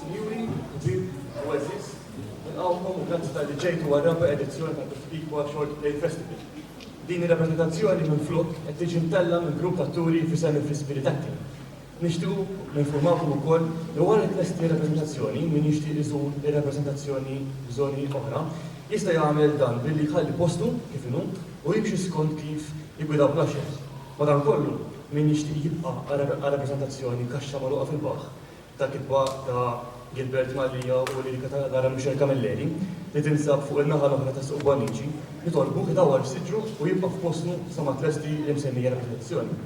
Sinjuri, ġib, u eżis, nilqawkom u grazzi tal-li ġejtu għal-raba edizzjoni ta' Bifikwa Short Play Festival. Din ir-rappresentazzjoni minn flok qed tiġi mtella minn grupp ta' turi fi semi fl-ispiritatti. Nixtu ninformawkom ukoll li wara li tlesti rappresentazzjoni min jixtieq iżur ir-rappresentazzjoni f'żoni oħra jista' jagħmel dan billi jħalli postu kif inhu u jimxi skont kif jigwidaw l-għaxex. Madankollu, min jixtieq jibqa' għal rappreżentazzjoni kaxxa magħluqa fil-baħħ ta' kitba ta' Gilbert Mallia u lirika ta' Lara Michel Camilleri, li tinsab fuq in-naħa l-oħra tas-Suq Bonnici, nitolbuh idawwar f'siġru u jibqa' f'postu sa ma tlesti l-imsemmija rappreżentazzjoni.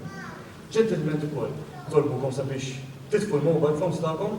Ġentilment ukoll nitolbukom sabiex titfu l-mobile phones tagħkom.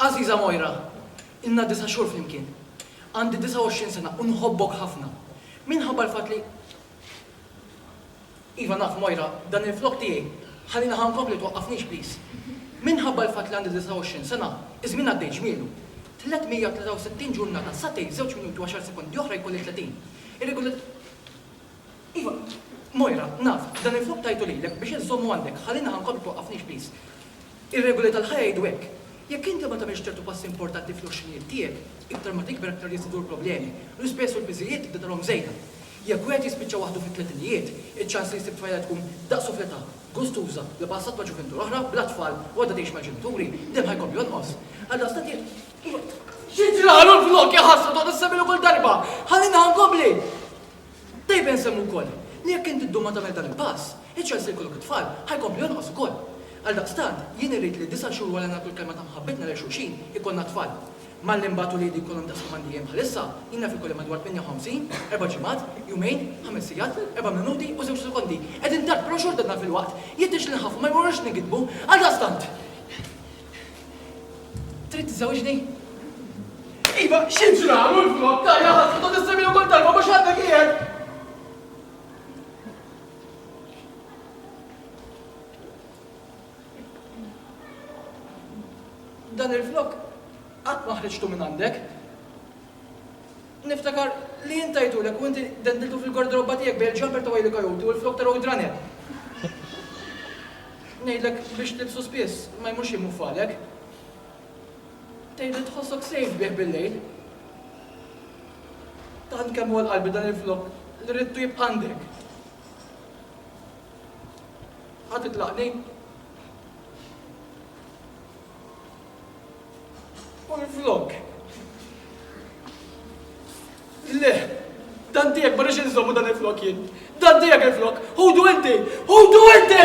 Għażiża Moira, ilna disa' xhur flimkien. Għandi 29 sena u nħobbok ħafna. Minħabba l-fatt li. Iva, naf, Moira, dan il-flokk tiegħi. Ħalli naħa nkompli twaqqafnix please. Minħabba l-fatt li għandi 29 sena, iż-żmien għaddej ġmielu. 363 ġurnata, sagħtejn, żewġ minuti u għaxar sekondi oħra jkolli 30. Ir-regola. Iva, Moira, naf, dan il-flokk tajtu lilek biex inżommu għandek. Ħalli naħa nkompli twaqqafnix please. Ir-regoli tal-ħajja jgħidu hekk. Jekk inti ma tagħmilx ċertu passi importanti fl-għoxrinijiet tiegħek, iktar ma tikber aktar jiżdiedu l-problemi. L-ispejjeż u l-piżijiet tibda tarahom żejda. Jekk wieħed jispiċċa waħdu fit-tletinijiet, iċ-ċans li jsib tfajla tkun daqsu fl-età, gustuża, bla passat ma' ġuvintur oħra, bla tfal u għadha tgħix mal-ġenituri, dejjem ħa jkompli jonqos. Għaldaqstant jekk. Xi ġralu l-flokk iħassru toqgħod issemmihlu kull darba? Ħalli naħa nkompli! Dejba jinsemmu wkoll li jekk int iddum ma tagħmel dan il-pass, iċ-ċans li jkollok it-tfal ħa jkompli jonqos ukoll. Għaldaqstant, jien irrid li disa' xhur wara li nagħtu l-kelma ta' mħabbitna lil xulxin, ikollna t-tfal. Malli mbagħad uliedi jkollhom daqs kemm għandi jiem bħalissa, jien naf ikolli madwar 58, erba' ġimgħat, jumejn, ħames sigħat, erba' minuti u żewġ sekondi. Qegħdin tard, però xorta dan filwaqt jidhirx li nħaffu ma jmorrux nigidbu. Għaldaqstant! Trid tiżżewġni? Iva, xi ġralu l-flok, tajja ħasra tot issemmini kull darba mhux għandek qiegħed. Dan il-flok qatt ma ħriġtu minn għandek. Niftakar li jien tajtulek u inti dendiltu fil-gardroba tiegħek bejn il-jumper ta' Wile Coyote u l-flokk ta' Roadrunner. Ngħidlek biex tilbsu spiss, ma jmurx jiem uffalek. Tgħid li tħossok safe bih bil-lejl. Tant kemm hu għal qalbi dan il-flokk li ridtu jibqa' għandek. Ħa titlaqni? U minflok. Le, dan tiegħek ma rridx inżommu dan il-flok jien. Dan tiegħek il-flok. Ħudu inti! Ħudu inti!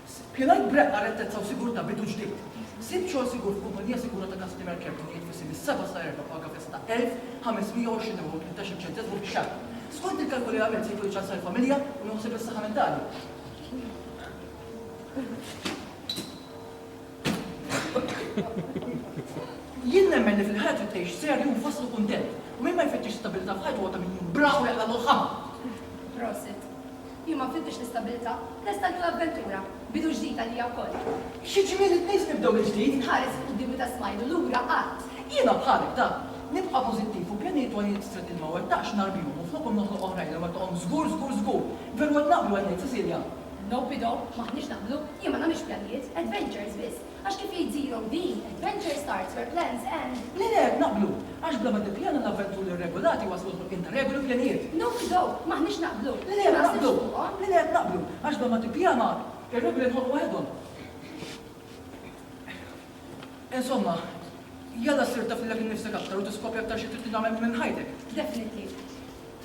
Spjegai b'reqqa rettezza u sigurtà bidu ġdid. Sib xogħol sigur f'kumpannija sigura ta' customer care b'ħinijiet fissi mis-seba' sa erba' b'paga fissa ta' elf ħamesmija u għoxrin ewro u tmintax-il ċenteżmu fix-xahar. Skont il-kalkoli li għamilt se jkun iċ-ċans għall-familja u nieħu ħsieb is-saħħa mentali. Jien nemmen li fil-ħajja trid tgħix serju u mfasslu kuntent. U min ma jfittix stabilità f'ħajtu huwa ta' min jkun bravu jaqlagħlu l-ħama. Prosit. Jien ma nfittix l-istabilità, lesta għal kull avventura, bidu ġdid għalija wkoll. Xi ġmiel it-tnejn nibdew mill-ġdid. Inħares il-quddiem meta smajt u lura għadt. Jiena bħalek, Dan. Nibqa' pożittiv u pjanijiet għoljin f'strett li ma wettaqx nhar b'jum u flokhom noħloq oħrajn li wettqhom żgur, żgur, żgur. Veru qed naqblu, qed ngħid Cecilia. Nope Ido, m'aħniex naqblu. Jien ma nagħmilx pjanijiet, adventures biss. Għax kif jgħidilhom din, adventure starts where plans end. Le le, naqblu! Għax bla ma tippjana l-avventuri rregolati jwasslu għall-ħolqien ta' regoli u pjanijiet. No we don't! M'aħniex naqblu! Le le, naqblu! Le le, naqblu! Għax bla ma tippjana, ir-regoli jinħolqu waħedhom. Insomma, jalla ssir taf lilek innifsek aktar u tiskopri aktar xi trid li tagħmel minn ħajtek. Definitely.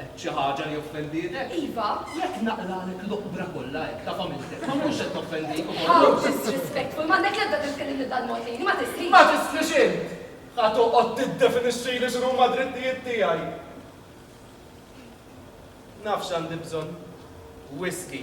Għedt xi ħaġa li offenditek? Iva, jekk naqralek l-oqbra kollha hekk ta' familtek, ma nkunx qed noffendik ukoll? How disrespectful! M'għandek l-ebda bżonn tkellimni b'dan mod lili, ma tistrix! Ma tistrix int! Ħa toqgħod tiddefinixxili x'inhuma d-drittijiet tiegħi! Naf x'għandi bżonn, whisky.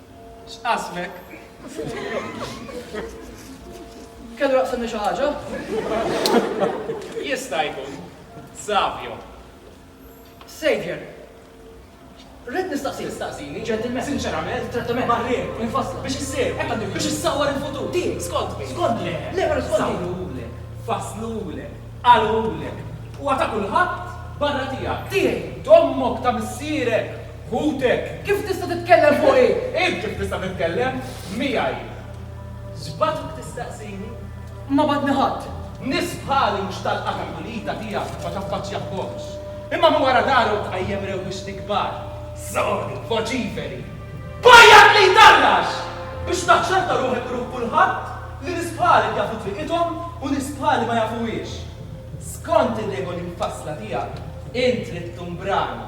X'qasmek? Kellu jaqsimni xi ħaġa? Jista' jkun. Savio. Savior. Rrid nistaqsi. Tistaqsini? Ġentilment. Sinċerament. Trattament. Marrien. Infassla. Biex issir. Hekk għandu jkun. Biex issawwar il-futur. Din. Skont min? Skont le. Le, però skont min? Sawrulek. Fasslulek. Qalulek. Huwa ta' kulħadd barra tiegħek. Tiegħi. T'ommok, ta' missierek. Ħutek! Kif tista' titkellem fuqi? Int kif tista' titkellem miegħi? X'bagħtuk tistaqsini? Ma bagħatni ħadd. Nies bħali mhux tal-qagħda pulita tiegħek ma taffaċċjahomx. Imma minn wara darhom tqajjem rewwixti kbar. Sodi, voċiferi. Bajjat li jtarrax! Biex taċċerta ruħek u ruħ kulħadd li nies bħalek jafu triqithom u nies bħali ma jafuhiex. Skont ir-regoli mfassla tiegħek, int trid tkun brani.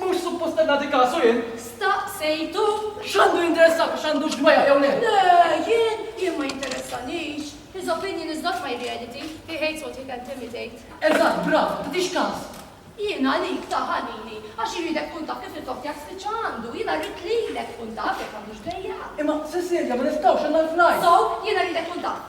Mhux suppost qed nagħti kasu jien! Staqsejtu? X'għandu jinteressah biex għandux dwejjaq jew le? Le, jien? Jien ma jinteressanix. His opinion is not my reality. He hates what he can't imitate. Eżatt, brava, tagħtix kas! Jien għalik, ta' ħanini, għax irridek tkun taf kif il-kok tiegħek spiċċa għandu. Jiena rrid lilek tkun taf jekk għandux dwejjaq. Imma, Cecilia, ma nistgħux, għandna l-flight! So, jiena rridek tkun taf.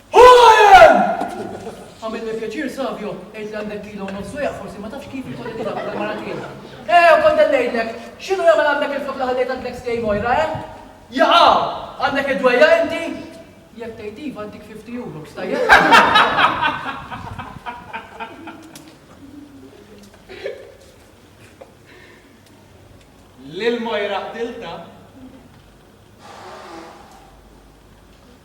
Ħajem! Għamilni pjaċir Savio, għid li għandek kilo u nofsu jgħak, forsi ma tafx kif jkolli tlaq għal mara tiegħi. Eh, u kont dellejlek, x'inhu jagħmel għandek il-flok li ħallejt għand l-ex tiegħi Mojra, eh? Jaqa! Għandek id-dwejja inti? Jekk tgħid iva għandik 50 euro, stajjeb? Lil Mojra ħdilta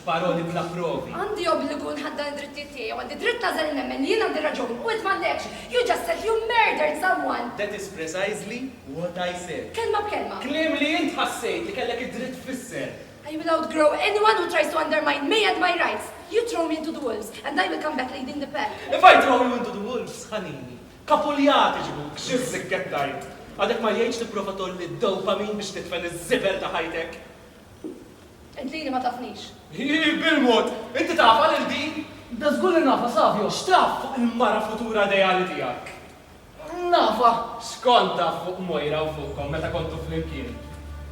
b'paroli bla provi. Għandi obbligu nħaddan id-drittijiet tiegħi u għandi dritt nagħżel li nemmen li jien għandi r-raġun u int m'għandekx. You just said you murdered someone! That is precisely what I said. Kelma b'kelma. Kliem li int ħassejt li kellek id-dritt tfisser. I will outgrow anyone who tries to undermine me and my rights. You throw me into the wolves and I will come back leading the pack. If I throw you into the wolves, ħanini, kapuljat iġibuk, xi ħsikkett tgħid? Għadek ma jgħidx tipprova tgħolli d-dopamin biex tidfen iż-żibel ta' ħajtek? Int lili ma tafnix. Hi, bil-mod! Inti tafha lil din? Da żgur li nafha, Savio! X'taf fuq il-mara futura ideali tiegħek? Nafha. X'kont taf fuq Moira u fuqkom meta kontu flimkien?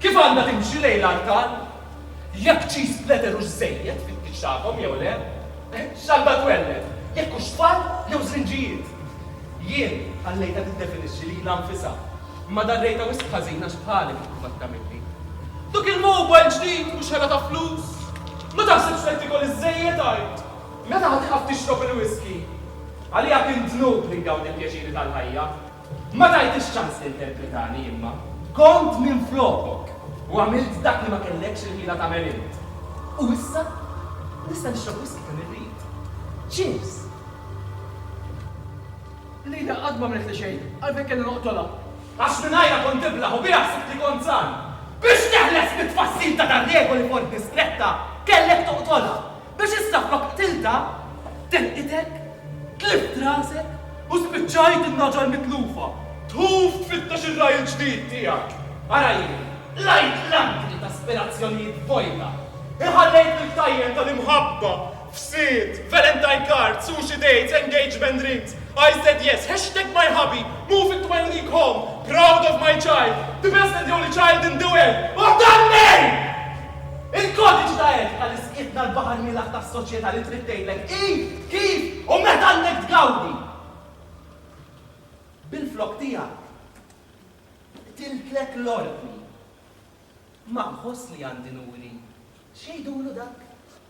Kif għandha timxi lejn l-artal? Jekk cheese splatter hux żejjed fit-tieġ tagħkom jew le? X'għandha twelled? Jekk hux tfal jew żrinġijiet? Jien ħallejtha tiddefinixxi lilha nfisha. Imma darrejtha wisq ħażin għax bħalek ikun mat tagħmilli. Dak il-mobile ġdid mhux ħela ta' flus? Ma taħsibx qed tiekol iżżejjed għajr? Meta ħa tieqaf tixrob il-whisky? Għalija kien dnub li ngawdi l-pjaċiri tal-ħajja. Ma tajtix ċans tinterpretani imma. Kont minflokok u għamilt dak li ma kellekx il-ħila tagħmel int. U issa nista' nixrob whisky kemm irrid. Cheers! Lida qatt m'għamlitli xejn, għalfejn kelli noqtolha? Għax mingħajrha kont iblah u biha ħsibtli kont żgħar. Biex teħles mit-tfassil ta' dan regoli f'ordni stretta, kellek toqtolha. Biex issa flok qtiltha, telqitek, tlift rasek u spiċċajt in-nagħġa l-mitlufa, tħuf tfittex ir-ragħaj il-ġdid tiegħek. Ara jien, qlajt l-antri ta' aspirazzjonijiet vojta, inħallejt fil-ktajjen tal-imħabba f'Sid, Valentine Card, Sushi Dates, Engagement Rings, I said yes, Hashtag My Hubby, Moving to My Unique Home, Proud of My Child, The Best and the Only Child in the World, u danni! Il-kodiċi ta' għerf ħalli sqietna l-baħar mielaħ tas-soċjetà li trid tgħidlek id, kif u meta għandek tgawdi. Bil-flokk tiegħek qtiltlek l-ordni. Ma nħoss li għandi nuri x'jgħidulu dak?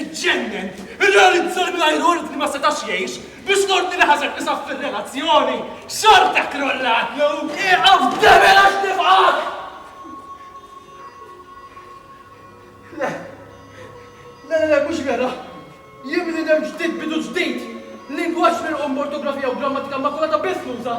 Iġġennen! Irrealizza li mingħajr ordni ma setax jgħix, biex l-ordni li ħażen isaffir r-relazzjoni, xorta krollatlu! Ieqaf debel għax nifqak! Le, le, le, mhux vera! Jien bniedem ġdid, bidu ġdid! Lingwaġġ mirqum b'ortografija u grammatika immakulata biss nuża!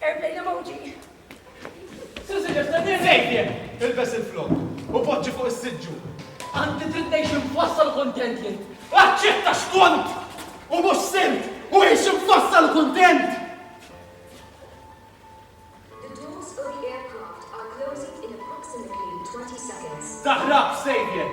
Airplane emoji. Susi ġefna nejjien, ilbes il-flok, u poġġi fuq is-siġġu. Anti trid ngħix infassal kontent jien. Aċċetta xkont! U mhux simt! U għix infassal kontent! Taħrab sejjer!